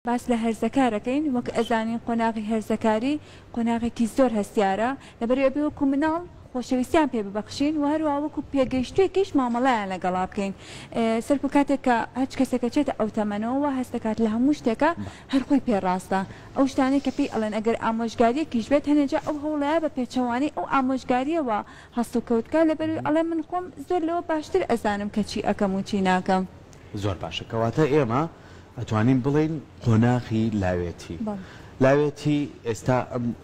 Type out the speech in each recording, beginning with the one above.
باس لە هەرزەکار ئەکەین، وەک ئەزانین قۆناغی هەرزەکاری قۆناغێکی زۆر هەستیارە، لەبەرئ ئەبێ وەکو مناڵ خۆشەویستیان پێ ببەخشین و هەروەها وەکو پێگەیشتووێکیش مامەڵەیان لەگەڵا بکەین، سەرکو کاتێک کە هەچ کەسێکە چێتە ئەو تەمەنەوە وا هەست دەکات لە هەموو شتێکا هەر خۆی پێ ڕاستە، ئەو شتانەی کە پێی ئەڵێن ئەگەر ئامۆژگاریەکیش بێت هەنێ جا ئەو هەوڵەیە بە پێچەوانەی ئەو ئامۆژگاریەوە هەڵسوکەوت بکات لەبەروی ئەڵێ من خۆم زۆر لەوە باشتر ئەزانم کە چی ئەکەم و چی ناکەم. زۆر باشە کەواتە ئێمە ئەتوانین بڵێین قۆناغی لاوێتی لاوێتی ئێستا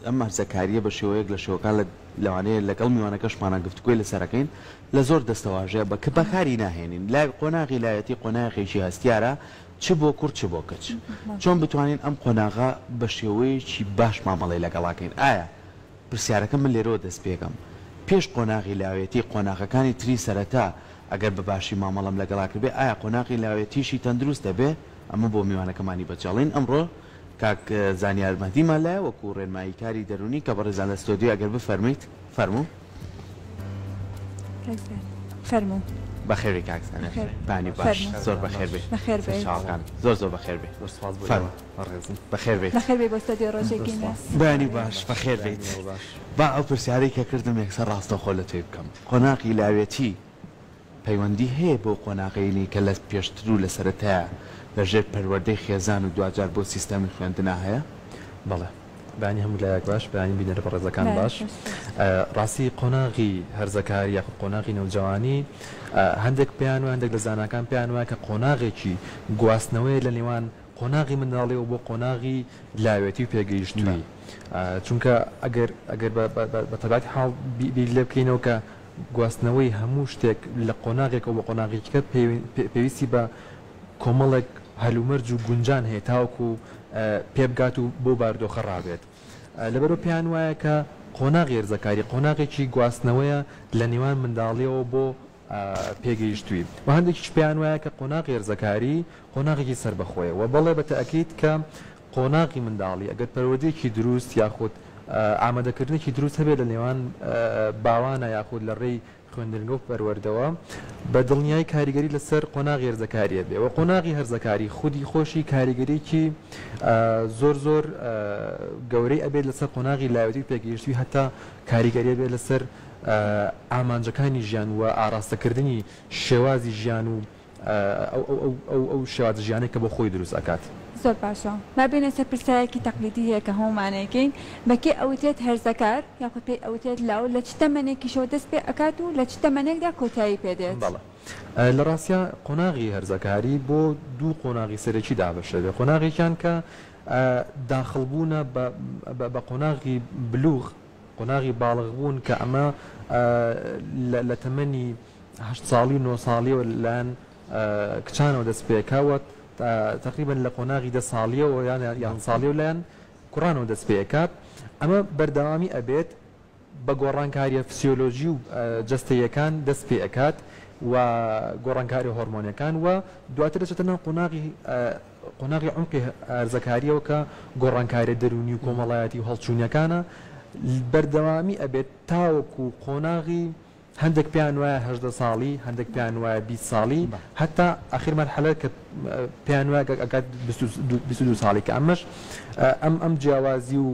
ئەم مەرزەکاریە بە شێوەیەک لە شێوەکان لە لەوانەیە لەگەڵ میوانەکەشمانە گفتگوی لەسەرەکەین لە زۆر دەستەواژەیە بە کە بەکاری ناهێنین لای قۆناغی لایەتی قۆناغێکی هەستیارە چ بۆ کورد چ بۆ کچ چۆن بتوانین ئەم قۆناغا بە شێوەیەکی باش مامەڵی لەگەڵاکەین ئایا پرسیارەکە من لێرەوە دەست پێکەم پێش قۆناغی لاوێتی قۆناغەکانی تری سەرەتا ئەگەر بە باشی مامەڵەم لەگەڵا کردبێ ئایا قۆناغی لاوێتیشی تەندروست دەبێ؟ ئەمە بۆ میوانەکەمانی بەجەڵین ئەمڕۆ کاک زانیار مەهدیمان لایە وەکو ڕێنمایی کاری دەرونی کە بەڕێزان لە ستۆدیۆ ئەگەر بفەرمویت فەرموو. کاک زانیار فەرموو. بەخێربێی کاک زانیار. بەخێر. بانی باش. فەرموو. زۆر بەخێربێی. بەخێربێیت. سەرچاوەکان زۆر زۆر بەخێربێ. زۆر سوپاس بۆ ئێوە. فەرموو. بەڕێزم بەخێر بێیت. بەخێر بێی بۆ ستۆدیۆ ڕۆژێکی نوێ. بەیانی باش بەخێر بێیت با ئەو پرسیارەی کە کردم یەکسەر ڕاستەوخۆ لە تۆی بکەم قۆناغی لاوێتی پەیوەندی هەیە بەو قۆناغەینی کە لە پێشتر و لە سەرەتایە لە ژێر پەروەردەی خێزان و دواجار بۆ سیستەمی خوێندنا هەیە؟ بەڵێ. بەیانی هەموو لایەک باش بەیانی بینەرە بەڕێزەکان باش ڕاستی قۆناغی هەرزەکاری یاخود قۆناغی نەوجەوانی هەندێک پێیان وایە هەندێک لە زاناکان پێیان وایە کە قۆناغێکی گواستنەوەیە لە نێوان قۆناغی منداڵیەوە بۆ قۆناغی لاوێتی و پێگەیشتووی چونکە ئەگەر ئەگەر بە تەباتی حاڵ بیر لێ بکەینەوە کە گواستنەوەی هەموو شتێک لە قۆناغێکەوە بە قۆناغیکە پێویستی بە کۆمەڵێک هەلومەرج و گونجان هەیە تاوەکو و پێبگات و بۆ باردۆخە ڕابێت لەبەرو پێیان وایە کە قۆناغی ێرزەکاری قۆناغێکی گواستنەوەیە لە نێوان منداڵیەوە بۆ پێگەیشتووی و هەندێکیش پێیان وایە کە قۆناغی هەرزەکاری قۆناغێکی سەربەخۆیە و بەڵێ بە تەئکید کە قۆناغی منداڵی ئەگەر پەروەردەیەکی دروست یاخود ئامادەکردنێکی دروست هەبێت لە نێوان باوانە یاخود لە ڕێی خوێندنگە و پەروەردەوە بە دڵنیایی کاریگەری لەسەر قۆناغی هەرزەکاریە بێ و قۆناغی هەرزەکاری خودی خۆشی کاریگەریکی زۆر زۆر گەورەی ئەبێت لەسەر قۆناغی لاوێتی و پێگەیشتوی هەتا کاریگەریە بێت لەسەر ئامانجەکانی ژیان و ئاراستەکردنی شێوازی ژیان و ئەو شێوازە ژیانەی کە بۆ خۆی دروست ئەکات. زۆر باشە با بێینە سەر پرسایەکی تەقلیدی هەیە کە هەموومان ئەیکەین، بە کێ ئەوترێت هەرزەکار یاخود پێی ئەوترێت لاو لە چ تەمەنێکیشەوە دەست پێ ئەکات و لە چ تەمەنێکدا کۆتایی پێ دێت؟ بەڵێ لە ڕاستیا قۆناغی هەرزەکاری بۆ دوو قۆناغی سەرەکی دابەش دەبێت قۆناغێکیان کە داخڵبوونە بە قۆناغی بلوغ، قۆناغی باڵغبوون کە ئەمە لە تەمەنی هەشت ساڵی و نۆ ساڵیەوە لەلایەن کچانەوە دەست پێکاوە تقریبن لە قۆناغی دە ساڵیەوە یان یان ساڵی و لایەن کوڕانەوە دەست پێکات ئەمە بەردەوامی ئەبێت بە گۆڕانکاریە فسیۆلۆژی و جستەیەکان دەست پێ ئەکات و گۆڕانکاری هۆرمۆنەکان و دواتر دەچێتە ناو قۆناغی قۆناغی عومقی هەرزەکاریەوە کە گۆڕانکاریە دەروونی و کۆمەڵایەتی و هەڵچوونیەکانە بەردەوامی ئەبێت تاوەکو قۆناغی هەندێک پێیان وایە هەژدە ساڵی هەندێک پێیان وایە بی ساڵی هەتا ئاخیر مەرحەلە کە پێیان وایە ئەکات دو ساڵی کە ئەمەش ئەم ئەم جیاوازی و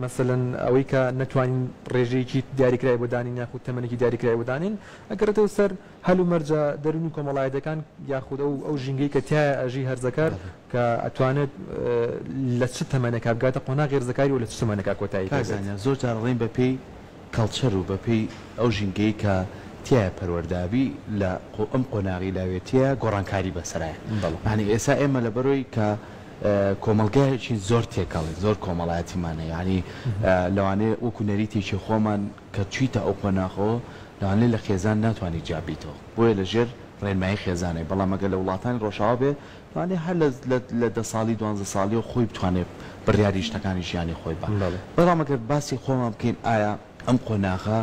مەسەلەن ئەوەی کە نەتوانین ڕێژەیەکی دیاریکرای بۆ دانین یاخود تەمەنێکی دیاریکرای بۆ دانین ئەگەڕێتەوە سەر هەلومەرجە دەروونی و کۆمەڵایەتیەکان یاخود ئەو ئەو ژینگەی کە تایە ئەژی هەرزەکار کە ئەتوانێت لە چ تەمەنێکا بگاتە قۆناغی هەرزەکاری و لە چ تەمەنێکا کۆتایی پێ بێت. کاک زانیار زۆر جار ئەڵێن بەپێی کەڵچەر و بەپێی ئەو ژینگەی کە تیایە پەروەردە ئەبی لە ئەم قۆناغی لاوێتیە گۆڕانکاری بەسەرایە یانی ئێسا ئێمە لەبەرۆی کە کۆمەڵگایەکین زۆر تێکەڵین زۆر کۆمەڵایەتیمان هەیە یانی لەوانەیە وەکو نەریتێکی خۆمان کە چویتە ئەو قۆناخەوە لەوانەیە لە خێزان ناتوانی جیا بیتەوە بۆیە لە ژێر ڕێنمایی خێزانێ بەڵام ئەگەر لە وڵاتانی ڕۆژاوا بێ لەوانەیە هەر لە دە ساڵی دوانزە ساڵیەوە خۆی بتوانێ بڕیاری شتەکانی ژیانی خۆی با بەڵام ئەگەر باسی خۆمان بکەین ئایا ئەم قۆناغە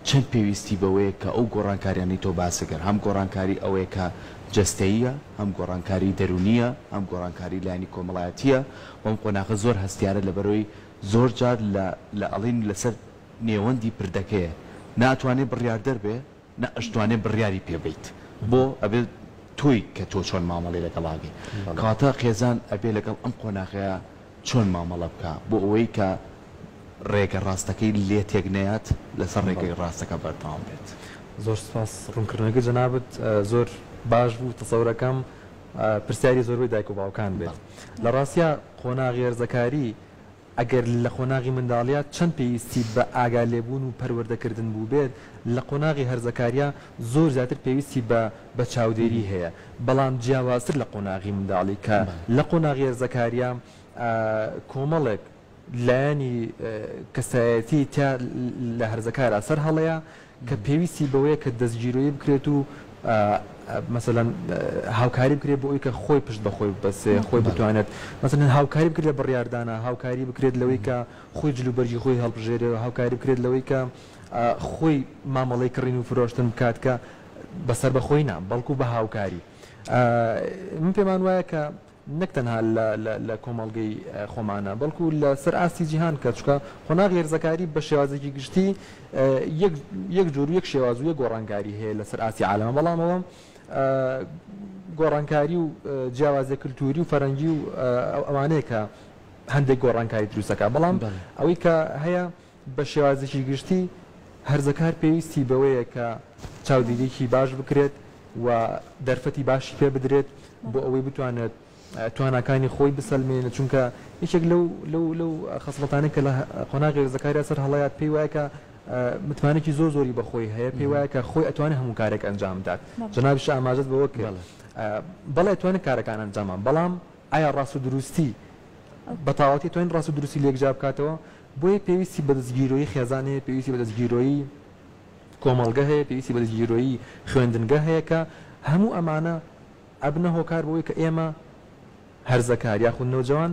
چەند پێویستی بەوەیە کە ئەو گۆڕانکاریانەی تۆ باست دەکەن هەم گۆڕانکاری ئەوەیە کە جەستەییە، هەم گۆڕانکاری دەروونییە، هەم گۆڕانکاری لایەنی کۆمەڵایەتییە و ئەم قۆناغە زۆر هەستیارە لەبەرئەوەی زۆر جار لە لە ئەڵین لەسەر نێوەندی پردەکەیە ناتوانێ بڕیاردەر بێ، نە ئەشتوانێ بڕیاری پێ بەیت بۆ ئەبێت تۆی کە تۆ چۆن مامەڵەی لەگەڵ ئاگەی کاتە قێزان ئەبێ لەگەڵ ئەم قۆناغەیە چۆن مامەڵە بکا بۆ ئەوەی کە ڕێگە ڕاستەکەی لێ تێک نەیات لەسەر ڕێگەی ڕاستەکە بەردەوام بێت. زۆر سوپاس ڕونکردنەوەی جەنابت زۆر باش بوو تەسەورەکەم پرسیاری زۆربەی دایک و باوکان بێت لە ڕاستیا قۆناغی هەرزەکاری ئەگەر لە قۆناغی منداڵییە چەند پێویستی بە ئاگا لێبوون و پەروەردە کردن بووبێت، لە قۆناغی هەرزەکارییە زۆر زیاتر پێویستی بە بە چاودێری هەیە، بەڵام جیاوازتر لە قۆناغی منداڵی کە لە قۆناغی هەرزەکارییە کۆمەڵێک لایەنی کەسایەتی تیا لە هەرزەکارا سەر هەڵەیە، کە پێویستی بەوەیە کە دەستگیرۆیی بکرێت و مەسەلەن هاوکاری بکرێت بۆ ئەوی کە خۆی پشت بەخۆی ببەستێ خۆی بتوانێت مەسەلەن هاوکاری بکرێت لە بڕیاردانا هاوکاری بکرێت لەوەی کە خۆی جلوبەرگی خۆی هەڵبژێرێ هاوکاری بکرێت لەوەی کە خۆی مامەڵەی کڕین و فرۆشتن بکات کە بە سەربەخۆی نا بەڵکو بە هاوکاری من پێمان وایە کە نەک تەنها لە کۆمەڵگەی خۆمانە بەڵکو لە سەر ئاستی جیهان کە چوکە قۆناغی هەرزەکاری بە شێوازێکی گشتی یەک جۆر و یەک شێواز و یەک گۆڕانکاری هەیە لە سەر ئاستی عالەمە بەڵام ئەوە گۆڕانکاری و جیاوازە کللتوری و فەرەنگی و ئەوانەیە کە هەندێک گۆڕانکاری دروستەکە بەڵام ئەوەی کە هەیە بە شێوازێکی گشتی هەرزەکار پێویستی بەوەیە کە چاودێرییەکی باش بکرێت و دەرفەتی باشی پێ بدرێت بۆ ئەوەی بتوانێت تواناکانی خۆی بسەلمێنێت، چونکە یەکێک لەو لەو لەو خەسڵەتانەی کە لە قۆناغی هەرزەکاریدا سەر هەڵەیات پێی وایە کە متمانەێکی زۆر زۆری بە خۆی هەیە، پێی وایە کە خۆی ئەتوانێت هەموو کارێک ئەنجام بدات، جەنابیشت ئاماژەت بەوە کرد بەڵێ ئەتوانێت کارەکان ئەنجام بەڵام ئایا ڕاست و دروستی بە تاواتی ئەتوانین ڕاست و دروستی لێک جیا بکاتەوە؟ بۆیە پێویستی بە دەستگیرۆیی خێزان هەیە، پێویستی بە دەستگیرۆیی کۆمەڵگە هەیە، پێویستی بە دەستگیرۆیی خوێندنگە هەیە کە هەموو ئەمانە ئەبنە هۆکار بۆ ئەوەی کە ئێمە هەرزەکار یاخود نەوجەوان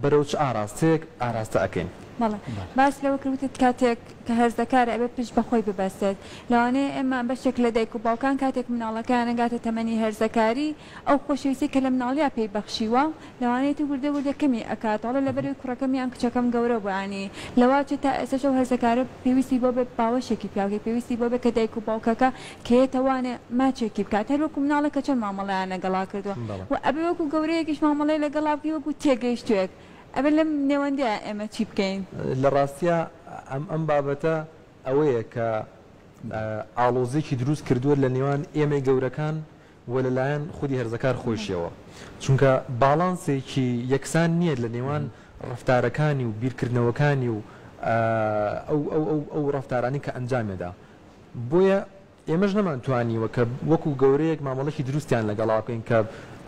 بەرەو چ ئاراستەیەک ئاراستە ئەکەین. بەڵێ باس لەوە کرد وتت کاتێک کە هەرزەکارە ئەبێت پشت بە خۆی ببەستێت، لەوانەیە ئێمە بەشێک لە دایک و باوکان کاتێک مناڵەکەیان نەگاتە تەمەنی هەرزەکاری، ئەو خۆشەویستەی کە لە مناڵیا پێی بەخشیوە لەوانەیەتی وردە وردە کەمی ئەکات وەڵا لەبەرئەوەی کوڕەکەم یان کچەکەم گەورە بوو یانی لەوە چێ تا ئێستەش ئەو هەرزەکارە پێویستی بەوە بێ باوەشێکی پیاوکێ پێویستی بەوە بێ کە دایک و باوکەکە کە یێتە وانێ ماچێکی بکات هەر وەکو مناڵێک کە چۆن مامەڵەیان لەگەڵا کردوە وە ئەبێ وەکو گەورەیەکیش مامەڵەی لەگەڵا بکەی وەکو تێگەیشتوێک ئەبێ لەم نێوەندەیا ئێمە چی بکەین؟ لە ڕاستیا ئەم ئەم بابەتە ئەوەیە کە ئاڵۆزیەکی دروست کردوە لە نێوان ئێمەی گەورەکان و لەلایەن خودی هەرزەکار خۆیشیەوە، چونکە باڵانسێکی یەکسان نییە لە نێوان ڕەفتارەکانی و بیرکردنەوەکانی و ئەو ڕەفتارانەی کە ئەنجامێدا، بۆیە ئێمەش نەمانتوانیوە کە وەکو گەورەیەک مامەڵەیەکی دروستیان لەگەڵا بکەین کە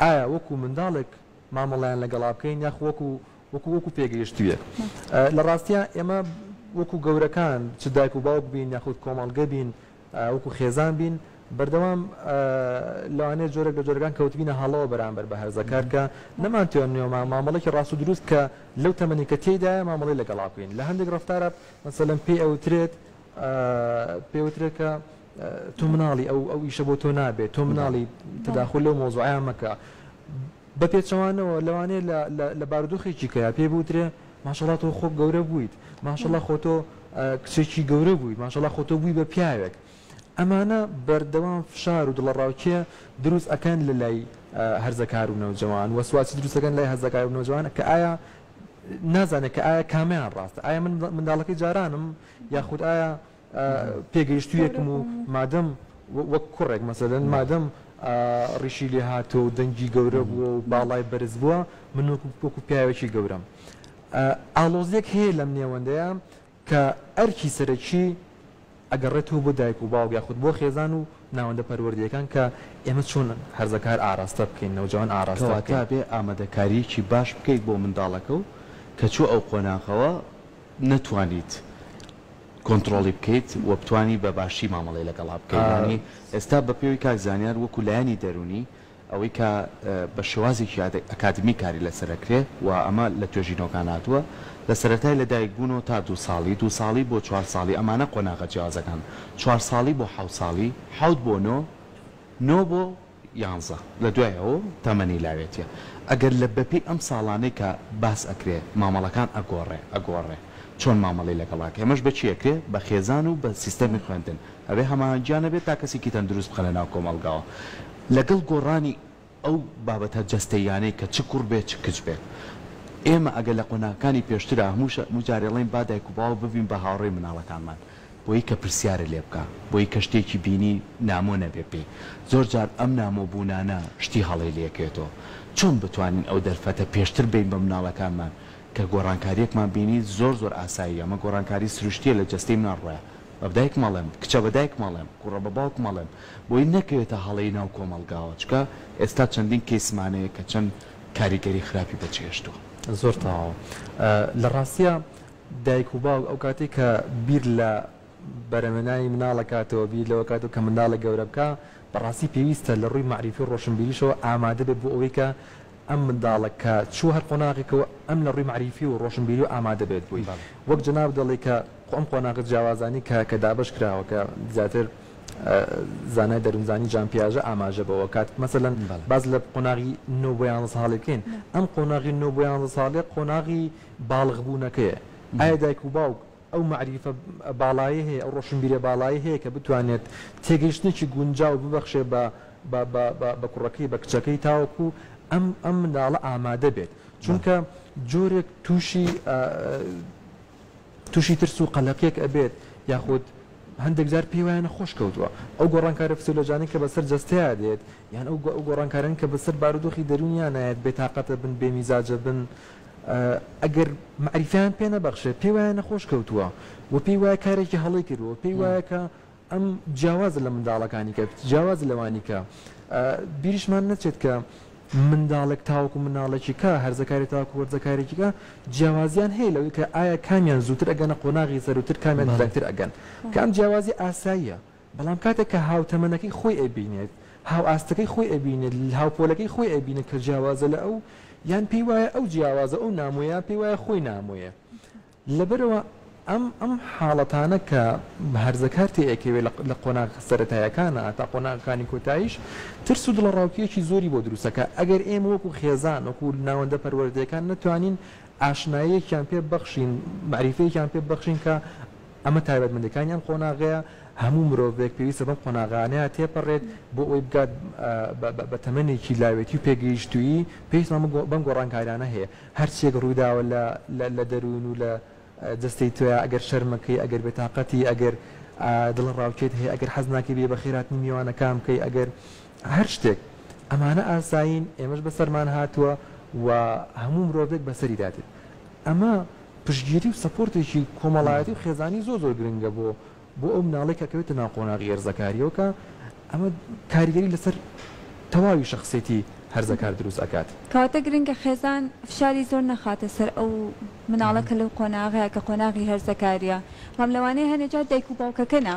ئایا وەکو منداڵێک مامەڵەیان لەگەڵا بکەین یاخو وەکو وەکو وەکو پێگەیشتوویەک لە ڕاستیا ئێمە وەکو گەورەکان چ دایک و باوک بین یاخود کۆمەڵگە بین وەکو خێزان بین بەردەوام لەوانەیە جۆرێک لە جۆرەکان کەوتبینە هەڵەوە بەرامبەر بە هەرزەکار کە نەمانتوانیوە مامەڵێکی ڕاست و دروست کە لەو تەمەنی کە تێیدایە مامەڵەی لەگەڵا بکەین لە هەندێک ڕەفتارە مەسەلەن پێی ئەوترێت پێی وترێت کە تۆ مناڵی ئەو ئەو ئیشە بۆ تۆ نابێت تۆ مناڵی تداخل لەو مۆزوعیان مەکە بە پێچەوانەوە لەوانەیە لە بارودۆخێکی کەیا پێی بوترێ ماشەڵا تۆ خۆ گەورە بوویت ماشەڵا خۆ تۆ کچێکی گەورە بووی ماشەڵا خۆ تۆ بووی بە پیاوێک ئەمانە بەردەوام فشار و دڵەڕاوکێ دروست ئەکەن لە لای هەرزەکار و نەوجەوان وەسواسی دروستەکەن لای هەزەکار و نەوجوان کە ئایا نازانێت کە ئایا کامیان ڕاستە ئایا من منداڵەکەی جارانم یاخود ئایا پێگەیشتوویەکم و مادەم وەک کوڕێک مەسەلەن مادەم ڕیشی لێ هاتووە و دەنگی گەورە بووە و باڵای بەرز بووە، من وەکو پیاوێکی گەورەم. ئاڵۆزییەک هەیە لەم نێوەندەیە کە ئەرکی سەرەکی ئەگەڕێتەوە بۆ دایک و باوک یاخود بۆ خێزان و ناوەندە پەروەردەیەکان کە ئێمە چۆن هەرزەکار ئاراستە بکەین، نەوجەوان ئاراستە بکەین. کەواتە ئەبێ ئامادەکارییەکی باش بکەیت بۆ منداڵەکە و کە چووە ئەو قۆناغەوە نەتوانیت کۆنتڕۆڵی بکەیت و بتوانی بە باشی مامەڵەی لەگەڵا بکەیت یانی ئێستا بە پێوەی کاک زانیار وەکو لایەنی دەروونی ئەوەی کە بە شێوازێکی ئەکادمی کاری لەسەر ئەکرێ و ئەمە لە توێژینەوەکان هاتووە لە سەرەتای لە دایک بوونەوە تا دوو ساڵی دوو ساڵی بۆ چوار ساڵی ئەمانە قۆناغە جیاوازەکان چوار ساڵی بۆ حەوت ساڵی حەوت بۆ نۆ نۆ بۆ یانزە لە دوایە و تەمەنی لاوێتیە ئەگەر لە بەپێی ئەم ساڵانەی کە باس ئەکرێ مامەڵەکان ئەگۆڕێ ئەگۆڕێ چۆن مامەڵەی لەگەڵ ئەکرێ ئەمەش بە چی ئەکرێ بە خێزان و بە سیستەمی خوێندن ئەبێ هەماهەنگیان هەبێ تا کەسێکی تەندروست بخەنە ناو کۆمەڵگاوە لەگەڵ گۆڕانی ئەو بابەتە جەستەییانەی کە چ کوڕ بێ چ کچ بێت ئێمە ئەگەر لە قۆناغەکانی پێشترا هەموو جارێڵێین با دایک و باوک ببین بە هاوڕێی مناڵەکانمان بۆی کە پرسیارە لێ بکا بۆی کە شتێکی بینی نامۆ نەبێ پێی زۆر جار ئەم نامۆ بوونانە شتی هەڵەی لێ کێتۆ چۆن بتوانین ئەو دەرفەتە پێشتر بەین بە مناڵەکانمان کە گۆڕانکاریەکمان بینی زۆر زۆر ئاسایی ئەمە گۆڕانکاری سروشتیە لە جەستەی مناڵ ڕۆیە بە دایک مەڵێم کچە بە دایک مەڵێم کوڕە بە باوک مەڵێم بۆی نەکەوێتە هەڵەی ناو کۆمەڵگاوە چکە ئێستا چەندین کەیسمان هەیە کە چەند کاریگەری خراپی بە چێشتوە. زۆر تەواوە لە ڕاستیا دایک و باوک ئەو کاتەی کە بیر لە بەرەمێنانی مناڵ ئەکاتەوە بیر لەوە ئەکاتەوە کە منداڵێک گەورە بکا بەڕاستی پێویستە لە ڕووی مەعریفی و ڕۆشنبیریشەوە ئامادە بێت بۆ ئەوەی کە ئەم منداڵە کە چووە هەر قۆناغێکەوە ئەم لە ڕووی مەعریفی و ڕۆشنبیریەوە ئامادە بێت بۆی وەک جەنابت دەڵێی کە خۆ ئەم قۆناغە جیاوازانەی کە کە دابەش کراوە کە زیاتر زانای دەروونزانی جان پیاژە ئاماژە بەوە کات کە مەسەلەن باس لە قۆناغی نۆ بۆ یانزە ساڵی بکەین ئەم قۆناغی نۆ بۆ یانزە ساڵێ قۆناغی باڵغبوونەکەیە، ئایا دایک و باوک ئەو مەعریفە باڵایەی هەیە، ئەو ڕۆشنبیریە باڵایەی هەیە کە بتوانێت تێگەیشتنێکی گونجاو ببەخشێ بە بە کوڕەکەی بە کچەکەی تاوەکو ئەم ئەم منداڵە ئامادە بێت چونکە جۆرێک تووشی تووشی ترس و قەلەقێک ئەبێت یاخود هەندێک جار پێی وایە نەخۆش کەوتووە ئەو گۆڕانکارە فسیۆلۆجانی کە بەسەر جەستەیە دێت یان ئەو گۆڕانکارن کە بەسەر بارودۆخی دەروونیان نایەت بێتاقەتە بن بێ میزاجە بن ئەگەر مەعریفەیان پێ نەبەخشێ پێی وایە نەخۆش کەوتووە و پێی وایە کارێکی هەڵەی کردووە پێی وایە کە ئەم جیاوازە لە منداڵەکانی کە جیاواز لەوانی کە بیریشمان نەچێت کە منداڵێک تاوەکو مناڵێکی کە هەرزەکاری تاکو وەرزەکارێکیکە جیاوازیان هەیە لەوەی کە ئایا کامیان زووتر ئەگەنە قۆناغی سەروتر کامیان زیاتر ئەگەن کام جیاوازی ئاساییە بەڵام کاتێک کە هاوتەمەنەکەی خۆی ئەبینێت، هاوئاستەکەی خۆی ئەبینێت، هاوپۆلەکەی خۆی ئەبینێت کە جیاوازە لە ئەو، یان پێی وایە ئەو جیاوازە ئەو نامۆیە، پێی وایە خۆی نامۆیە. لەبەرئەوە ئەم ئەم حاڵەتانە کە هەرزەکار تێ ئەکەوێت لە لە قۆناغە سەرەتایەکانە هەتا قۆناغەکانی کۆتاییش، ترس و دڵەڕاوکێیەکی زۆری بۆ دروست ئەکا. ئەگەر ئێمە وەکوو خێزان، وەکوو ناوەندە پەروەردەیەکان نەتوانین ئاشناییەکیان پێ ببەخشین، مەعریفەیەکیان پێ ببەخشین کە ئەمە تایبەتمەندیەکانی ئەم قۆناغەیە، هەموو مرۆڤێک پێویستە بەم قۆناغانەیە تێپەڕێت بۆ ئەوەی بگات بە تەمەنێکی لاوێتی و پێگەیشتوویی، پێویستمان بەم گۆڕانکاریانە هەیە، هەرچیەک ڕوویداوە لە دەروون و لە جەستەی تۆیا، ئەگەر شەرمەکەی، ئەگەر بێتاقەتی، ئەگەر دڵەڕاوکێت هەیە، ئەگەر حەز ناکەی بێی بەخێرهاتنی میوانەکان بکەی، ئەگەر هەر شتێک، ئەمانە ئاسایین، ئێمەش بەسەرمان هاتووە و هەموو مرۆڤێک بەسەریدا دێت، ئەمە پشتگیری و سەپۆرتێکی کۆمەڵایەتی و خێزانی زۆر زۆر گرنگە بۆ بۆ ئەو مناڵەی کە ئەکەوێتە ناو قۆناغی هەرزەکاریەوە کە ئەمە کاریگەری لەسەر تەواوی شەخسێتی هەرزەکار دروست ئەکات. کەواتە گرنگە خێزان فشاری زۆر نەخاتە سەر ئەو مناڵە کە لەو قۆناغەیە کە قۆناغی هەرزەکاریە بەڵام لەوانەیە هەنێ جار دایک و باوکەکە نا.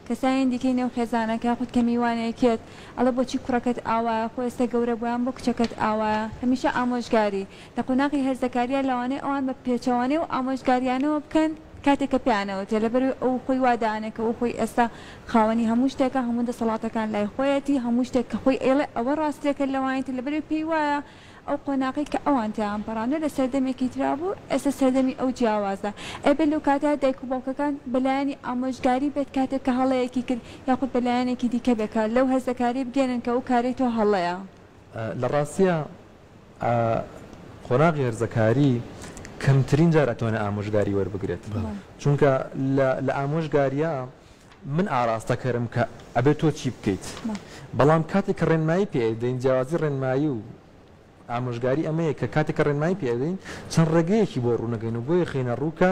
کەسانی دیکەی نێو خێزانەکە خود کە میوانێکیت ئەڵێ بۆچی کوڕەکەت ئاوایە خۆ ئێستا گەورە بووە یان بۆ کچەکەت ئاوایە هەمیشە ئامۆژگاری لە قۆناغی هەرزەکاریە لەوانەیە ئەوان بە پێچەوانەی ئەو ئامۆژگاریانەوە بکەن کاتێک کە پێیان ئەوترێ لەبەروی ئەو خۆی وا دانێ کە ئەو خۆی ئێستا خاوەنی هەموو شتێکە هەموو دەسەڵاتەکان لای خۆیەتی هەموو شتێک کە خۆی ئەیڵێ ئەوە ڕاستیەکە لەوانیتر لەبەروی پێی وایە ئەو قۆناغەی کە ئەوان تێیان پەڕاندووە لە سەردەمێکی ترا بوو، ئێستا سەردەمی ئەو جیاوازە. ئەبێت لەو کاتەدا دایک و باوکەکان بە لایەنی ئامۆژگاری بێت کاتێک کە هەڵەیەکی کرد یاخود بە لایەنێکی دیکە بێت کە لەو هەرزەکارییە بگەیەنن کە ئەو کارەی تۆ هەڵەیە. لە ڕاستییا قۆناغی هەرزەکاری کەمترین جار ئەتوانێت ئامۆژگاری وەربگرێت چونکە لە ئامۆژگارییا من ئاراستەکەرم کە ئەبێت تۆ چی بکەیت، بەڵام کاتێک کە ڕێنمایی پێ ئەیدەین، جیاوازی ڕێنمایی و ئامۆژگاری ئەمەیە کە کاتێک کە ڕێنمایی پێ ئەدەین چەند ڕێگەیەکی بۆ ڕوونەکەین و بۆی ئەخەینە ڕوو کە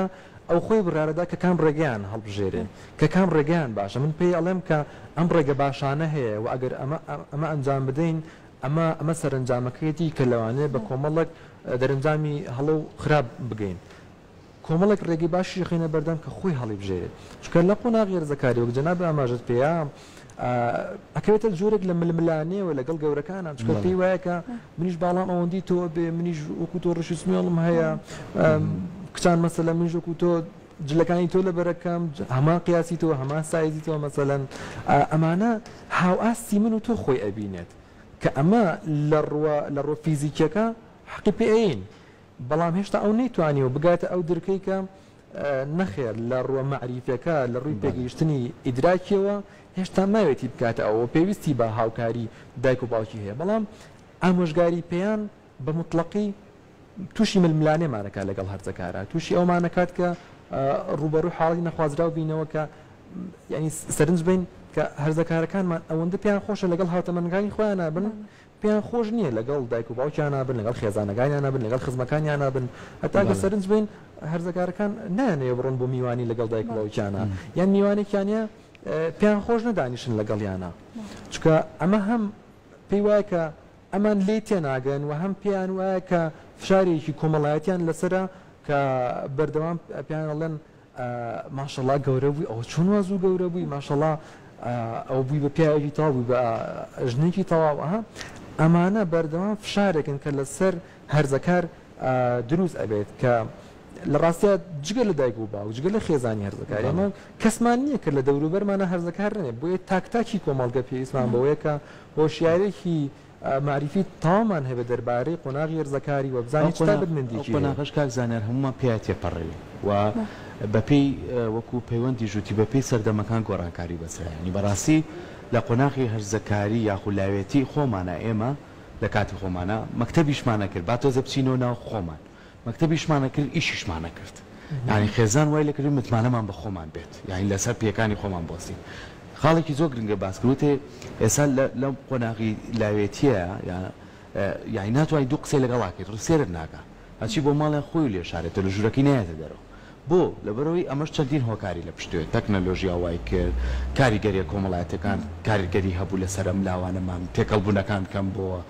ئەو خۆی بڕیارە دا کە کام ڕێگەیان هەڵبژێرێ، کە کام ڕێگەیان باشە، من پێی ئەڵێم کە ئەم ڕێگە باشانە هەیە و ئەگەر ئەمە ئەمە ئەنجام بدەین ئەمە ئەمە سەرەنجامەکەیەتی کە لەوانەیە بە کۆمەڵێک دەرەنجامی هەڵە و خراپ بگەین. کۆمەڵێک ڕێگەی باشیش دەخەینە بەردەم کە خۆی هەڵیبژێرێت، چونکە لە قۆناغی هەرزەکاری وەک جەنابت ئاماژەت پێیە ئەکەوێتە جۆرێک لە ململانێوە لەگەڵ گەورەکانە، چونکە پێی وایە کە منیش باڵام ئەوەندی تۆ ئەبێ، منیش وەکو تۆ ڕیشی سمێڵم هەیە، کچان مەسەلەن منیش وەکو تۆ جلەکانی تۆ لەبەرەکەم، هەمان قیاسی تۆ، هەمان سایزی تۆ مەسەلەن، ئەمانە هاوئاستی من و تۆ خۆی ئەبینێت، کە ئەمە لە ڕووە فیزیکییەکە حەقی پێ ئەیەین، بەڵام هێشتا ئەو نەیتوانیوە بگاتە ئەو درکەی کە نەخێر لە ڕووە مەعریفیەکە لە ڕووی پێگەیشتنی ئیدراکیەوە هێشتا ماوێتی بکاتە ئەو و پێویستی بە هاوکاری دایک و باوکی هەیە بەڵام ئامۆژگاری پێیان بە مطلقی تووشی ململانێمانەکە لەگەڵ هەرزەکارە تووشی ئەومانەکات کە ڕوبەڕوو حاڵی نەخوازراو بینەوە کە ینی سەرنج بین کە هەرزەکارەکانمان ئەوەندە پێیان خۆشە لەگەڵ هاوتەمەنگانی خۆیان نابن پێیان خۆش نییە لەگەڵ دایک و باوکیانا بن، لەگەڵ خێزانەکانیانا بن، لەگەڵ خزمەکانیانا بن، هەتا کە سەرنج بین هەرزەکارەکان نایانەوێ بڕۆن بۆ میوانی لەگەڵ دایک و باوکیانا، یان میوانێکیان هەیە پێیان خۆش نیە دانیشن لەگەڵیانا، چونکە ئەمە هەم پێی وایە کە ئەمان لێی تێناگەن و هەم پێیان وایە کە فشارێکی کۆمەڵایەتیان لەسەرە کە بەردەوام پێیان ئەڵێن، ماشەڵا گەورە بووی ئەوە چۆن وا زوو گەورە بووی ماشەڵا ئەوە بووی بە پیاوێکی تەواو بووی بە ژنێکی تەواو ئەها ئەمانە بەردەوام فشارێکن کە لەسەر هەرزەکار دروست ئەبێت کە لە ڕاستە جگە لە دایک و باو جگە لە خێزانی هەرزەکاری ئەمە کەسمان نییە کە لە دەوروبەرمانە هەرزەکار نێ بۆیە تاکتاکی کۆمەڵگە پێویستمان بەوەیە کە هۆشیارێکی مەعریفی تەواومان هەبێت دەربارەی قۆناغی هەرزەکاری و بزانین چ تایبەتمەندیەکی هەیە. ئەو قۆناغەش کاک زانیار هەموومان پێیا تێپەڕیوین و بەپێی وەکو پەیوەندیش وتی بەپێی سەردەمەکان گۆڕانکاری بەسەرا هێنی. بەڕاستی لە قۆناغی هەرزەکاری یاخو لاوێتی خۆمانا ئێمە لە کاتی خۆمانا مەکتەبیشمان نەکرد با تۆزێ بچینەوە ناو خۆمان مەکتەبیشمان نەکرد ئیشیشمان نەکرد یانی خێزان وای لێکردین متمانەمان بە خۆمان بێت یانی لەسەر پێکانی خۆمان بوەستین خاڵێکی زۆر گرنگە باس کرد وتێ ئێستا لەم قۆناغی لاوێتیە یا یانی ناتوانانی دوو قسەی لەگەڵا کرد ڕسێرت ناکە هەچی بۆ ماڵیان خۆی و لێ شارێتە لە ژوورەکەی نایەتە دەرەوە بۆ لەبەرەوەی ئەمەش چەندین هۆکاری لە پشتێ تەکنەلۆژیا وای کرد کاریگەریە کۆمەڵایەتەکان کاریگەری هەبوو لەسەر ئەم لاوانەمان تێکەڵبوونەکان کەم بۆوە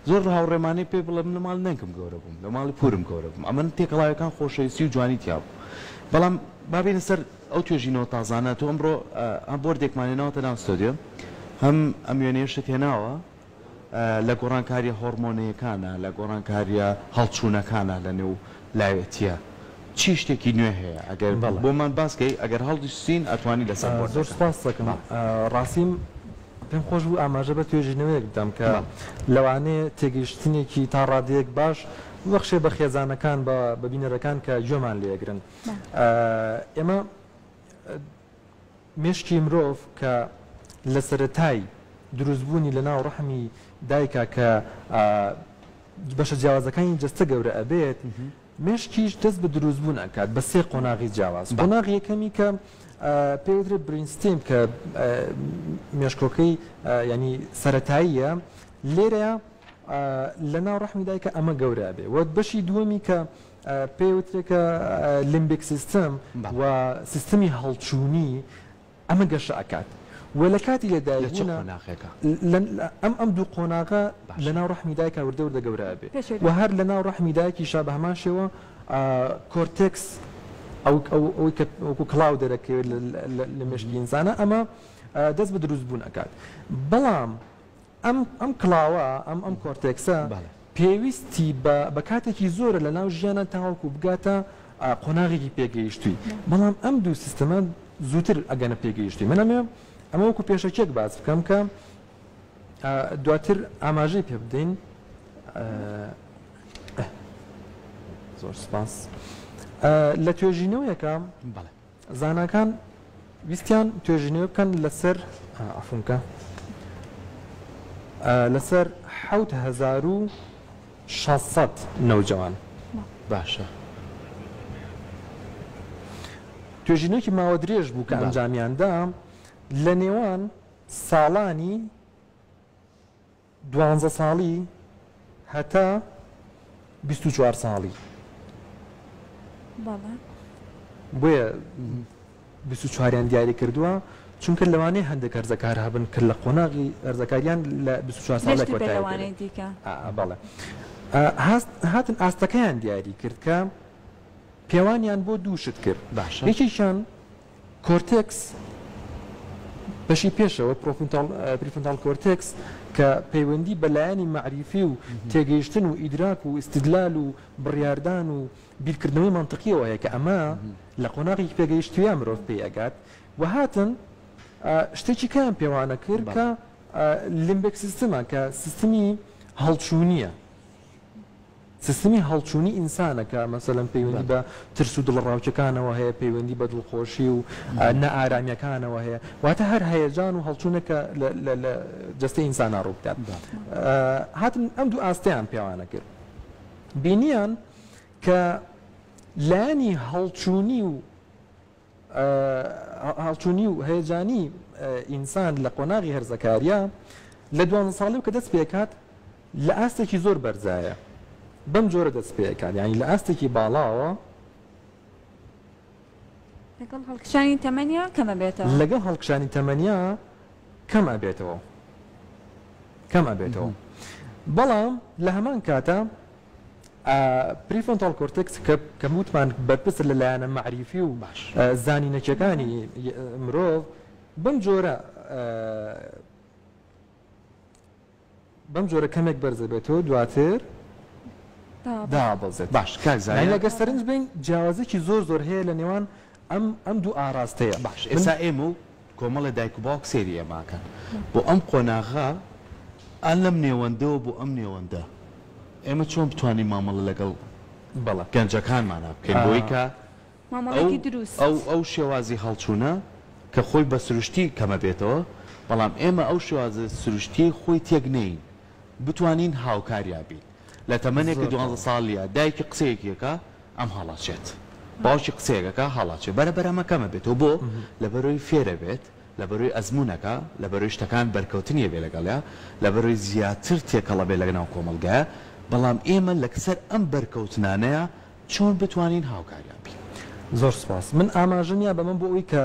زۆر لە هاوڕێمانەی پێ بڵێ من لە ماڵی نەنکم گەورە بووم، لە ماڵی پوورم گەورە بووم، ئەمە تێکەڵاویەکان خۆشەویستی و جوانی تیا بوو. بەڵام با بێینە سەر ئەو توێژینەوە تازانە، تۆ ئەمڕۆ هەم بۆردێکمان هێناوەتە ناو ستۆدیۆ، هەم ئەم وێنەیەشت هێناوە، لە گۆڕانکارییە هۆڕمۆنەیەکانە، لە گۆڕانکارییە هەڵچوونەکانە لە نێو لاوێتیە چی شتێکی نوێ هەیە ئەگەر بۆمان باس کەی ئەگەر هەڵدیستین ئەتوانی لەسەر بۆردەکە. زۆر سوپاست دەکەم ڕاستیم پێم خۆش بوو ئاماژە بە توێژینەوەیەک بدەم کە لەوانەیە تێگەیشتنێکی تا ڕادەیەک باش ببەخشێ بە خێزانەکان بە بە بینەرەکان کە گوێمان لێ ئەگرن ئێمە مێشکی مرۆڤ کە لە سەرەتای دروستبوونی لە ناو ڕەحمی دایکا کە بەشە جیاوازەکانی جەستە گەورە ئەبێت مێشکیش دەست بە دروست بوون ئەکات بە سێ قۆناغی جیاواز قۆناغی یەکەمی کە پێ وترێت برینستیم کە مێشکۆکەی ینی سەتاییە لێرەیە لە ناو ڕحمی دایکە ئەمە گەورە بێ وەت بەشی دووەمی کە پێ وترێکە لیمبیک سیستم و سیستمی هەڵچوونی ئەمە گەشە ئەکات و لە کاتی لە دایک بوونا. لە چ قۆناغێکە؟ ئەم ئەم دوو قۆناغە لە ناو ڕەحمی دایکا وردە وردە گەورە ئەبێ و هەر لە ناو ڕەحمی دایکیشا بە هەمان شێوە کۆرتێکس ئەو ئەو ئەوی کە وەکوو کڵاو دەرەکەوێت لە مێشکی ئینسانە ئەمە دەست بە دروست بوون ئەکات بەڵام ئەم ئەم کڵاوە ئەم ئەم کۆرتێکسە بەڵێ. پێویستی بە بە کاتێکی زۆرە لە ناو ژیانا تاوەکو بگاتە قۆناغێکی پێگەیشتووی بەڵام ئەم دوو سیستەمە زووتر ئەگەنە پێگەیشتووی من ئەمەوێ ئەمە وەکو پێشەکیەک باس بکەم کە دواتر ئاماژەی پێ بدەین زۆر سپاس لە توێژینەوەیەکە بەڵێ زاناکان ویستیان توێژینەوە بکەن لەسەر عفونکە لەسەر حوت هزار و شەسەد نەوجەوان باشە توێژینەوەکی ماوە درێژ بوو کە ئەنجامیاندا لە نێوان ساڵانی دوانزە ساڵی هەتا بیست و چوار ساڵی. بەڵێ. بۆیە بیست و چواریان دیاری کردووە، چونکە لەوانەیە هەندێک هەرزەکار هەبن کە لە قۆناغی هەرزەکاریان لە بیست و چوار ساڵ لێک وەتایە لەوانەی دیکە. بەڵێ. هاتن ئاستەکەیان دیاری کرد کە پێوانیان بۆ دوو شت کرد. باشە. یەکێکیان کۆرتێکس بەشی پێشەوە، پریفرۆنتال کۆرتێکس، کە پەیوەندی بە لایەنی مەعریفی و تێگەیشتن و ئیدراک و ئیستیدلال و بڕیاردان و بیرکردنەوەی مەنتقییەوە هەیە کە ئەمە لە قۆناغێکی پێگەیشتوویە مرۆڤ پێی ئەگات و هاتن شتێکی کەیان پێوانە کرد کە لیمبیک سیستمە کە سیستمی هەڵچوونییە. سیستمی هەڵچوونی ئینسانە کە مەسەلەن پەیوەندی بە ترس و دڵەڕاوکێکانەوە هەیە، پەیوەندی بە دڵخۆشی و نائارامییەکانەوە هەیە، واتە هەر هەیەجان و هەڵچوونێک کە لە جەستەی ئینسانا ڕوو بدات. هاتن ئەم دوو ئاستەیان پێوانە کرد. بینییان کە لایەنی هەڵچوونی و هەڵچوونی و هەیەجانی ئینسان لە قۆناغی هەرزەکاریە لە دوانزە ساڵی و کە دەست پێکات لە ئاستێکی زۆر بەرزایە بەم جۆرە دەست پێکات یعنی لە ئاستێکی باڵاوە لەگەڵ هەڵکشانی تەمەنیا کەمە بێتەوە لەگەڵ هەڵکشانی تەمەنیا کەم ئەبێتەوە کەم ئەبێتەوە بەڵام لە هەمان کاتە پریفۆنتاڵ کۆرتێکس کە کە وتمان بەرپرسە لە لایەنە مەعریفی و زانینەکیەکانی مرۆڤ بەم جۆرە بەم جۆرە کەمێک بەرزەبێتەوە دواتر دابەزێت باش کاکزانانی لەگە سەرنج بین جیاوازێکی زۆر زۆر هەیە لە نێوان ئەم ئەم دوو ئاراستەیە. باش ئێسا ئێمە و کۆمەڵێ دایک و باوک سەیری ئێماکەن بۆ ئەم قۆناغە ئا لەم نێوەندەوە بۆ ئەم نێوەندە ئێمە چۆن بتوانین مامەڵە لەگەڵ گەنجەکانمانا بکەین بۆی کە ئەو ئەو ئەو شێوازی هەڵچوونە کە خۆی بە سروشتی کەمە بێتەوە بەڵام ئێمە ئەو شێوازە سروشتیەی خۆی تێک نەیین بتوانین هاوکاریا بین لە تەمەنێک کە دوانزە ساڵیە دایکی قسەیەکی ئەکا ئەم هەڵەچێت باوکی قسەیەک ئەکا هەڵەچێ بەرە بەرە ئەمە کەمە بێتەوە بۆ لەبەرەوەی فێرەبێت لەبەرەوەی ئەزمونەکا لەبەرەوەی شتەکان بەرکەوتنی ئەبێ لەگەڵیا لەبەرەوەی زیاتر تێکەڵ ئەبێ لەگەناو کۆمەڵگایا بەڵام ئێمە لەکسەر ئەم بەرکەوتنانەیا چۆن بتوانین هاوکاریا بین. زۆر سوپاس من ئاماژەم یا بەمە بۆ ئەوەی کە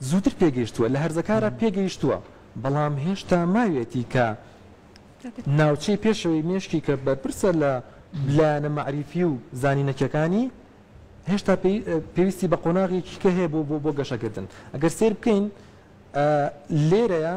زووتر پێگەیشتووە لە هەرزەکارە پێگەیشتووە بەڵام هێشتا ماویەتی کە ناوچەی پێشەوەی مێشکی کە بەرپرسە لە لایەنە مەعریفی و زانینەکیەکانی هێشتا پێویستی بە قۆناغێکی کە هەیە بۆ بۆ بۆ گەشەکردن ئەگەر سیر بکەین لێرەیە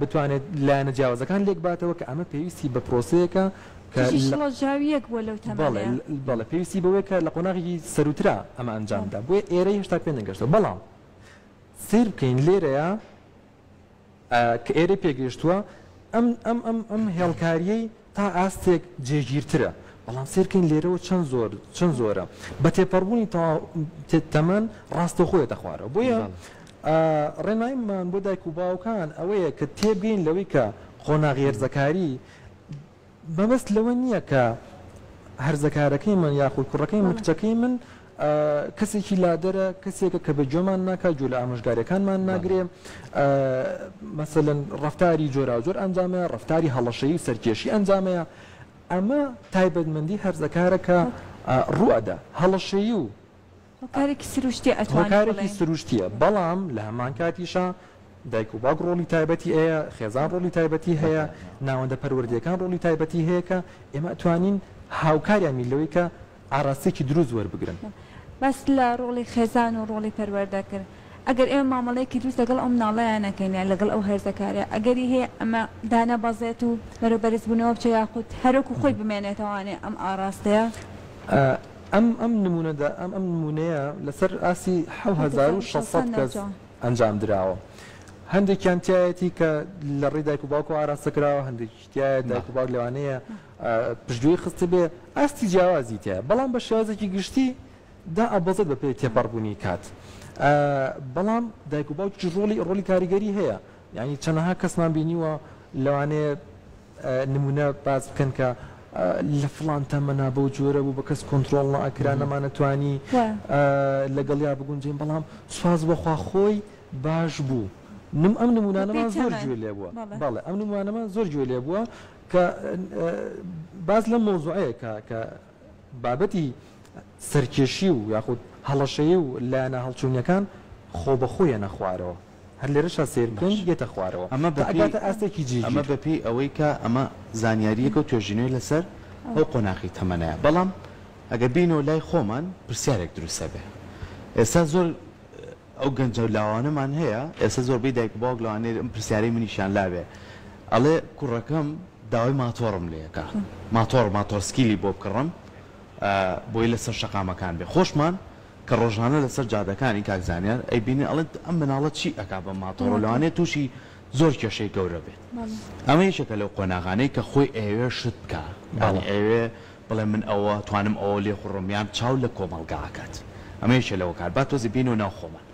بتوانێت لایەنە جیاوازەکان لێکباتەوە کە ئەمە پێویستی بە پرۆسەیەکە کە کچی شڵەژاوییەک بووە لەو تەمەنەیا. بەڵێ بەڵێ پێویستی بەوەیە کە لە قۆناغێکی سەرووترا ئەمە ئەنجام بدا بۆیە ئێرە هێشتا پێ نەگەشتووە بەڵام سەیر بکەین لێرەیا کە ئێرەی پێگەیشتووە ئەم ئەم ئەم ئەم هێڵکارییەی تا ئاستێک جێگیرترە، بەڵام سەیر کەین لێرەوە چەند زۆر چەند زۆرە، بە تێپەڕبوونی تەوا تەمەن ڕاستەوخۆ یەتە خوارەوە، بۆیە ئا ڕێنماییمان بۆ دایک و باوکان ئەوەیە کە تێبگەین لەوەی کە قۆناغی هەرزەکاری مەبەست لەوە نییە کە هەرزەکارەکەی من یاخود کوڕەکەی من کچەکەی من کەسێکی لادەرە، کەسێکە کە بە گوێمان ناکا، گوێ لە ئامۆژگاریەکانمان ناگرێ، مەسەلەن ڕفتاری جۆراوجۆر ئەنجامەیە، ڕفتاری هەڵەشەی و سەرکێشی ئەنجامەیە، ئەمە تایبەتمەندی هەرزەکارە کە ڕوو ئەدا، هەڵەشەی و هۆکارێکی سروشتیە ئەتوانین بڵێین، هۆکارێکی سروشتیە، بەڵام لە هەمان کاتیشا دایک و باوک ڕۆڵی تایبەتی هەیە، خێزان ڕۆڵی تایبەتی هەیە، ناوەندە پەروەردەیەکان ڕۆڵی تایبەتی هەیە کە ئێمە ئەتوانین هاوکاریان بین لەوەی کە ئاراستەیەکی دروست وەربگرن. باس لە ڕۆڵی خێزان و ڕۆڵی پەروەردە کرد، ئەگەر ئێمە مامەڵەیەکی دروست لەگەڵ ئەو مناڵەیە نەکەین یان لەگەڵ ئەو هەرزەکارەیە ئەگەری هەیە ئەمە دانەبەزێت و بەرەو بەرزبوونەوە بچێت یاخود هەر وەکو خۆی بمێنێتەوانێ ئەم ئاراستەیە. ئەم ئەم نموونە دا ئەم ئەم نموونەیە لەسەر ئاستی حەوت هەزار و شەش سەد کەس ئەنجام دراوە هەندێکیان تیایەتی کە لە ڕێی دایک و باوکەوە ئاراستە کراوە هەندێکیش تیایە دایک و باوک لەوانەیە پشتگوێی خستبێ ئاستی جیاوازی تیایە بەڵام بە شێوازێکی گشتی دائەبەزێت بە پێی تێپەڕبوونی کات بەڵام دایک و باوکی ڕۆڵی ڕۆلی کاریگەری هەیە یعنی چەنەها کەسمان بینیوە لەوانەیە نمونە باس بکەن کە لە فلان تەمەنا بەو جۆرە بوو بە کەس کۆنتترۆڵ ناکرا نەمانەتوانی لەگەڵیا بگونجین بەڵام سواز بەخوا خۆی باش بوو نم ئەم نمونانەمان زۆر گوێ لێ بووە بەڵێ ئەم نموانەمان زۆر گوێ لێ بووە کە باس لەم مەوزوعەیە کا کە بابەتی سەرکێشی و یاخود هەڵەشەیی و لایەنە هەڵچوونیەکان خۆ بە خۆی یەنە خوارەوە هەر لێرەشا سەیر بکەین یەتە خوارەوە ئەمە بە پێی ئەگاتە ئاستێکی جیگیر ئەمە بە پێی ئەوەی کە ئەمە زانیاریەکە و توێژینەوەی لەسەر ئەو قۆناغی تەمەنەیە بەڵام ئەگەر بینەوە لای خۆمان پرسیارێک دروست ئەبێ ئێستا زۆر ئەو گەنجەو لاوانەمان هەیە ئێستا زۆربەی دایک و باوک لەوانەیە ئەم پرسیارەی منیشیان لابێ ئەڵێ کوڕەکەم داوای ماتۆڕم لێ کا ماتۆڕ ماتۆڕ سکیلی بۆ بکڕم بۆی لەسەر شەقامەکان بێ خۆشمان کە ڕۆژانە لەسەر جادەکانی کاک زانیار ئەیبینین ئەڵێت ئەم مناڵە چی ئەکا بەم ماتۆڕە لەوانەیە تووشی زۆر کێشەی گەورە بێت ئەمە یەکێکە لەو قۆناغانەی کە خۆی ئەیەوێ شت بکا یانی ئەیەوێ بڵێ من ئەوە توانم ئەوە لێ خوڕم یان چاو لە کۆمەڵگا ئەکات ئەمە یەکێ لە هۆکار با تۆزێ بێینەوە ناو خۆمان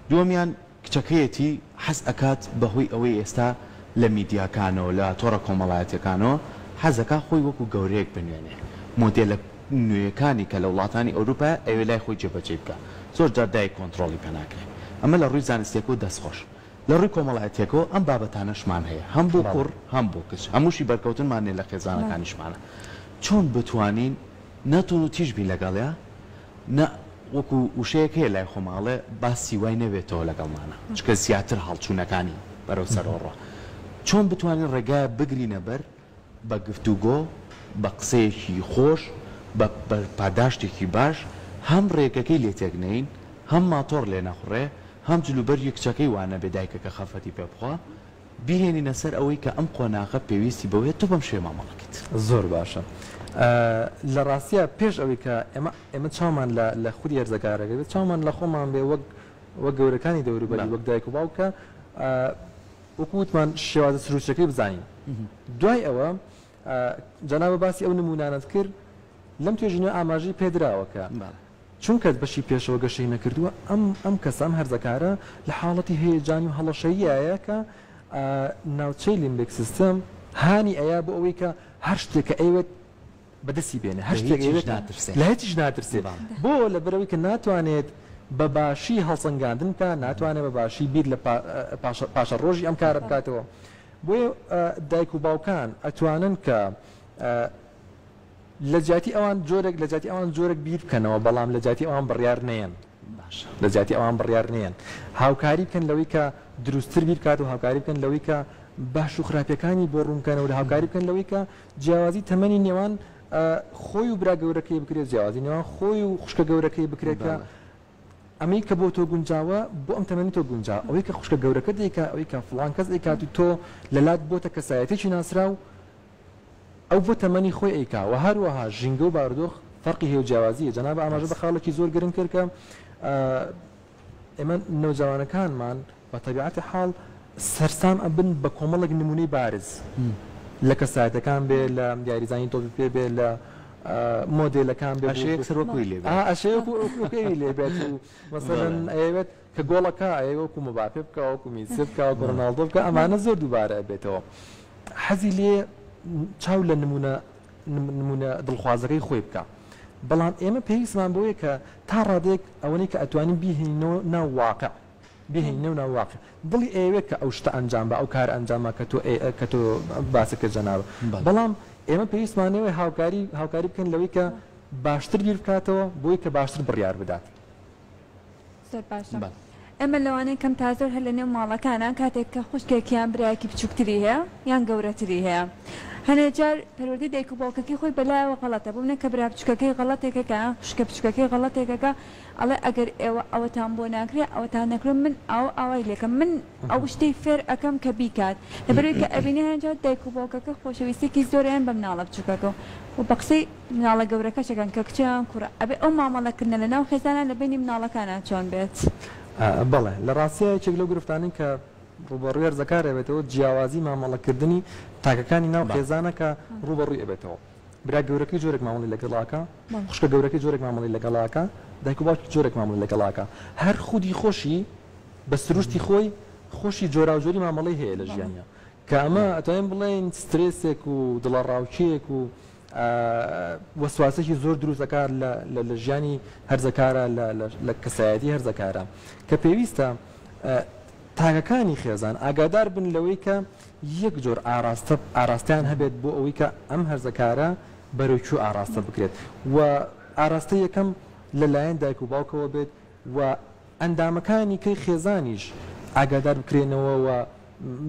دووەمیان کچەکەیەتی حەز ئەکات بە هۆی ئەوەی ئێستا لە میدیاکانەوە لە تۆڕە کۆمەڵایەتیەکانەوە حەز ئەکا خۆی وەکو گەورەیەک بنوێنێ مۆدێلە نوێیەکانی کە لە وڵاتانی ئەوروپایە ئەوێ لای خۆی جێبەجێی بکا زۆر جار دایک کۆنتڕۆڵی پێ ناکرێ ئەمە لە ڕووی زانستیەکەوە دەست خۆش. لە ڕووی کۆمەڵایەتیەکەوە ئەم بابەتانەشمان هەیە هەم بۆ کوڕ هەم بۆ کچ هەمووشی بەرکەوتنمان نیە لە خێزانەکانیشمانە چۆن بتوانین نە توون و تیژ بین لەگەڵیا نە وەکو وشەیەک هەیە لای خۆمان ئەڵێ باسی وای نەبێتەوە لەگەڵمانا چونکە زیاتر هەڵچوونەکانی بەرەو سەرەوە ڕۆ چۆن بتوانین ڕێگایەک بگرینە بەر بە گفتوگۆ، بە قسەیەکی خۆش، بە پاداشتێکی باش، هەم رێگەکەی لێ تێک نەین، هەم ماتۆڕ لێ نەخوڕێ، هەم جلوبەرگی کچەکەی وا نەبێ دایکەکە خەفەتی پێ بخوا، بیهێنینە سەر ئەوەی کە ئەم قۆناغە پێویستی بەوەیە تۆ بەم شێوە مامەڵە بکەیت. زۆر باشە. لە راستیا پێش ئەوەی کە ئێمە ئێمە چاومان لە لە خودی هەرزەکارەکە بێ، چاومان لە خۆمان بێ وەک وەک گەورەکانی دەوروبەری، وەک دایک و باوکە، وەکو وتمان شێوازە سروشتیەکەی بزانین دوای ئەوە جەنابە باسی ئەو نمونانەت کرد لەم توێژینە ئاماژەی پێدراوە کە چونکەت بەشی پێشەوە گەشەی نەکردووە ئەم ئەم کەسەم هەرزەکارە لە حاڵەتی هەیەجان و هەڵەشەییایە کە ناوچەی لیمبک سیستم هانی ئەیا بۆ ئەوەی کە هەر شتێکە ئەیوێت بەدەستی بێنێ هەر شتێک هەیە لە هیچیش ناترسێ بۆ لەبەرەوەی کە ناتوانێت بە باشی هەڵسەنگاندن بکات ناتوانێت بە باشی بیر لە پاشە ڕۆژی ئەم کارە بکاتەوە بۆیە دایک و باوکان ئەتوانن کە لە جیاتی ئەوان جۆرێک لە جیاتی ئەوان جۆرێک بیر بکەنەوە بەڵام لە جیاتی ئەوان بڕیار نێن لە جیاتی ئەوان بڕیار نێن هاوکاری بکەن لەوەی کە دروستتر بیرکات و هاوکاری بکەن لەوەی کە باش و خراپەکانی بۆ ڕوونکەنەوە هاوکاری بکەن لەوەی کە جیاوازی تەمەنی نێوان خۆی و برا گەورەکەی بکرێت جیاوازی نێوان خۆی و خوشکە گەورەکەی بکرێت کە ئەمەی کە بۆ تۆ گونجاوە بۆ ئەم تەمەنی تۆ گونجا ئەوەی کە خوشکە گەورەکە دیکە ئەوەی کە فلان کەس ئەیکات و تۆ لەلات بۆتە کەسایەتێکی ناسراو ئەو بۆ تەمەنی خۆی ئەیکا و هەروەها ژینگە و باردۆخ فەرقی هێو جیاوازیە جەناب ئاماژە بە خاڵێکی زۆر گرنگ کرد کە ئێمە نەوجەوانەکانمان بە تەبیعەتی حاڵ سەرسام ئەبن بە کۆمەڵێک نموونەی بارز لە کەسایەتەکان بێ لە یاریزانی تۆپی پێ بێ لە مۆدێلەکان بێ ئەشەیەک سەر وەکوی لێ ئەشەیەک وەکوی لێ بێت و مەسەلەن ئەیەوێت کە گۆڵەکە ئەیە وەکو مباپێ بکە وەکو میسی بکە وەکو ڕۆناڵدۆ بکە ئەمانە زۆر دووبارە ئەبێتەوە حەزی لێ چاو لە نمونە نمونە دڵخوازەکەی خۆی بکە بەڵام ئێمە پێویستمان بۆیە کە تا ڕادێک ئەوەی کە ئەتوانین بیهێنینەوە ناو واقع بهێنی نێو ناو واقع دڵی ئەیەوێت کە ئەو شتە ئەنجام با ئەو کارە ئەنجام با کە تۆ ئەی کە تۆ باست کرد جەنابم بەڵام ئێمە پێویستمانەوەی هاوکاری هاوکاری بکەین لەوەی کە باشتر بیر بکاتەوە بۆی کە باشتر بڕیار بدات. زۆر باشە ئێمە لەوانەیە کەم تا زۆر هەر لە نێو ماڵەکانە کاتێک کە خوشکێک یان برایەکی بچووکتری هەیە یان گەورەتری هەیە هەنێ جار پەروەردەی دایک و باوکەکەی خۆی بەلایەوە غەڵەتە بۆ منە کە برا بچووکەکەی غەڵەتێکەکە خوشکە بچووکەکەی غەڵەتێکەکە ئەڵێ ئەگەر ئێوە ئەوەتان بۆ ناکرێ ئەوەتان نەکرێ من ئاو ئاوای لێکەم من ئەو شتەی فێر ئەکەم کە بیکات لەبەرەوەی کە ئەبینێ هەنجار دایک و باوکەکە خۆشەویستیەکی زۆرەیان بە مناڵە بچوکەکە و بە قسەی مناڵە گەورەکەشەکەن کە کچە یان کوڕە ئەبێ ئەو مامەڵە کردنە لە ناو خێزانا لە بەینی مناڵەکانا چۆن بێت؟ بەڵێ لە ڕاستیا یەکێک لەو گرفتانەی کە ڕووبەڕووی هەرزەکار ئەبێتەوە جیاوازی مامەڵە کردنی تاکەکانی ناو خێزانە کە ڕووبەڕووی ئەبێتەوە. برا گەورەکەی جۆرێک مامەڵەی لەگەڵ ئەکا، خوشکە گەورەکەی جۆرێک مامەڵەی لەگەڵ ئەکا، دایک و باوکی جۆرێک مامەڵەی لەگەڵ ئەکا. هەر خودی خۆشی بە سروشتی خۆی خۆشی جۆراوجۆری مامەڵەی هەیە لە ژیانیا کە ئەمە ئەتوانین بڵێین سترێسێک و دڵەڕاوکێیەک و وەسواسێکی زۆر دروست ئەکا لە ژیانی هەرزەکارە لە کەسایەتی هەرزەکارە کە پێویستە تاکەکانی خێزان ئاگادار بن لەوەی کە یەک جۆر ئاراستە ئاراستەیان هەبێت بۆ ئەوەی کە ئەم هەرزەکارە بەرەو کوێ ئاراستە بکرێت و ئاراستە یەکەم لە لایەن دایک و باوکەوە بێت و ئەندامەکانی کەی خێزانیش ئاگادار بکرێنەوە و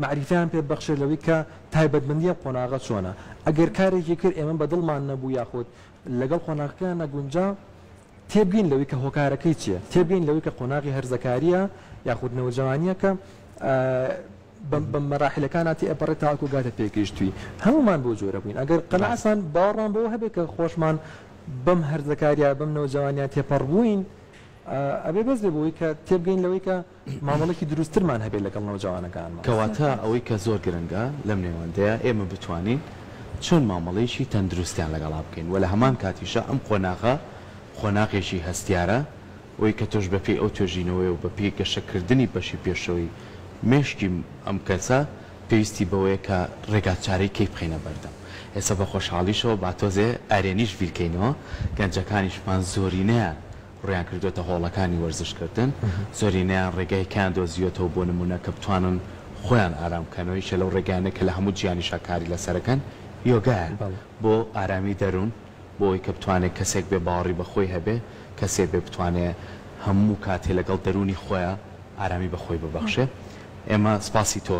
مەعریفەیان پێ ببەخشێت لەوەی کە تایبەتمەندی ئەم قۆناغە چۆنە ئەگەر کارێکی کرد ئێمە بە دڵمان نەبوو یاخود لەگەڵ قۆناغەکەیان نەگونجا تێبگەین لەوەی کە هۆکارەکەی چیە تێبگەین لەوەی کە قۆناغی هەرزەکاریە یاخود نەوجەوانیەکە بە مەراحیلەکانا تێئەپەڕێت تاوەکو گاتە پێگەیشتووی هەموومان بۆ جۆرە بووین ئەگەر قەناعەتمان باوەڕمان بەوە هەبێت کە خۆشمان بەم هەرزەکاریە بەم نەوجەوانیە تێپەڕبووین ئەبێ بەس بێ بۆی کە تێبگەین لەوەی کە مامەڵەکی دروستترمان هەبێت لەگەڵ نەوجەوانەکانمان. کەواتە ئەوەی کە زۆر گرنگە لەم نێوەندەیە ئێمە بتوانین چۆن مامەڵەیەکی تەندروستیان لەگەڵا بکەین و لە هەمان کاتیشا ئەم قۆناغە قۆناغێکی هەستیارە ئەوەی کە تۆش بە پێی ئەو توێژینەوەیە و بە پێی گەشە کردنی بەشی پێشەوەی مێشکی ئەم کەسە پێویستی بەوەیە کە ڕێگا چارەی کەی بخەینە بەردەم ئێستا بە خۆشحاڵیشەوە با تۆزێ ئەرێنیش بیر کەینەوە گەنجەکانیشمان زۆرینەیان ڕوویان کردۆتە هۆڵەکانی وەرزش کردن زۆرینەیان ڕێگای کەیان دۆزیوەتەوە بۆ نموونە کە بتوانن خۆیان ئارام بکەنەوە یەکێ لەو ڕێگایانەی کە لە هەموو جیهانیشا کاری لەسەر ئەکەن یۆگایە بۆ ئارامی دەروون. بۆ ئەوەی کە بتوانێ کەسێک بێ باوەڕی بە خۆی هەبێ، کەسێ بێ بتوانێ هەموو کاتێ لەگەڵ دەروونی خۆیا ئارامی بە خۆی ببەخشێ. ئێمە سپاسی تۆ.